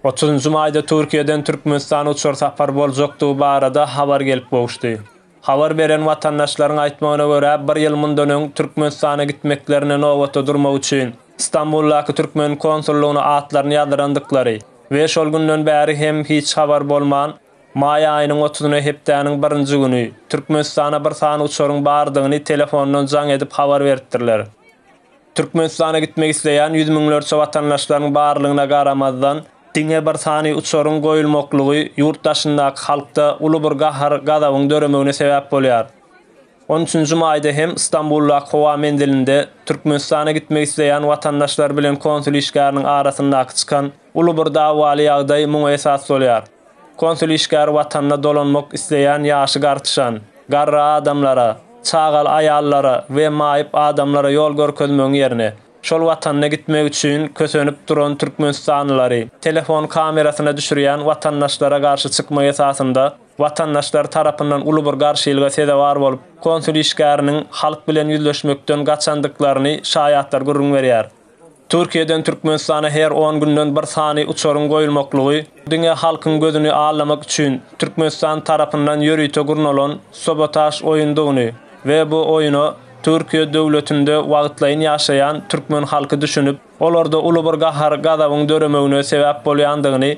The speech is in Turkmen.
Otuzynjy maýda Türkiýeden Türkmenistana uçar sapar boljakdygy barada habar gelip gowuşdy. Habar beren watandaşlaryň aýtmagyna görä, bir ýyl mundan öň Türkmenistana gitmeklerine nobata durmak üçin Stambuldaky türkmen konsullygyna atlaryny ýazdyrandyklary we şol günden bäri hem hiç habar bolman, maý aýynyň otuzyna hepdäniň birinji güni Türkmenistana bir sany uçaryň bardygyny telefondan jaň edip habar beripdirler. Türkmenistana gitmek isleýän ýüz müňlerçe watandaşlaryň barlygyna garamazdan, diňe bir sany uçaryň goýulmaklygy ýurt daşyndaky halkda uly bir gahar-gazabyň döremegine sebäp bolýar. On üçünji maýda hem Stambuldaky howa menzilinde Türkmenistana gitmek isleýän watandaşlar bilen konsul işgäriniň arasyndaky çykan uly bir dawaly ýagdaý muňa esas bolýar. Konsul işgäri watanyna dolanmak isleýän ýaşy gartyşan, garry adamlara, çagaly aýallara we maýyp adamlara ýol görkezmegiň ýerine, şol watanyna gitmek üçin kösenip duran türkmenistanlylary telefon kamerasyna düşürýän watandaşlara garşy çykma esasynda watandaşlar tarapyndan uly bir garşylyga sezewar bolup, konsul işgäriniň halk bilen ýüzleşmekden gaçandyklaryny şaýatlar gürrüň berýär. Türkiýeden Türkmenistana her on günden bir sany uçaryň goýulmaklygy diňe halkyň gözüni allamak üçin Türkmenistan tarapyndan ýörite gurnalan sabotaž oýundygyny we bu oýuna Türkiýe döwletinde wagtlaýyn ýaşaýan türkmen halky düşünip, olarda uly bir gahar-gazabyň döremegine sebäp bolýandygyny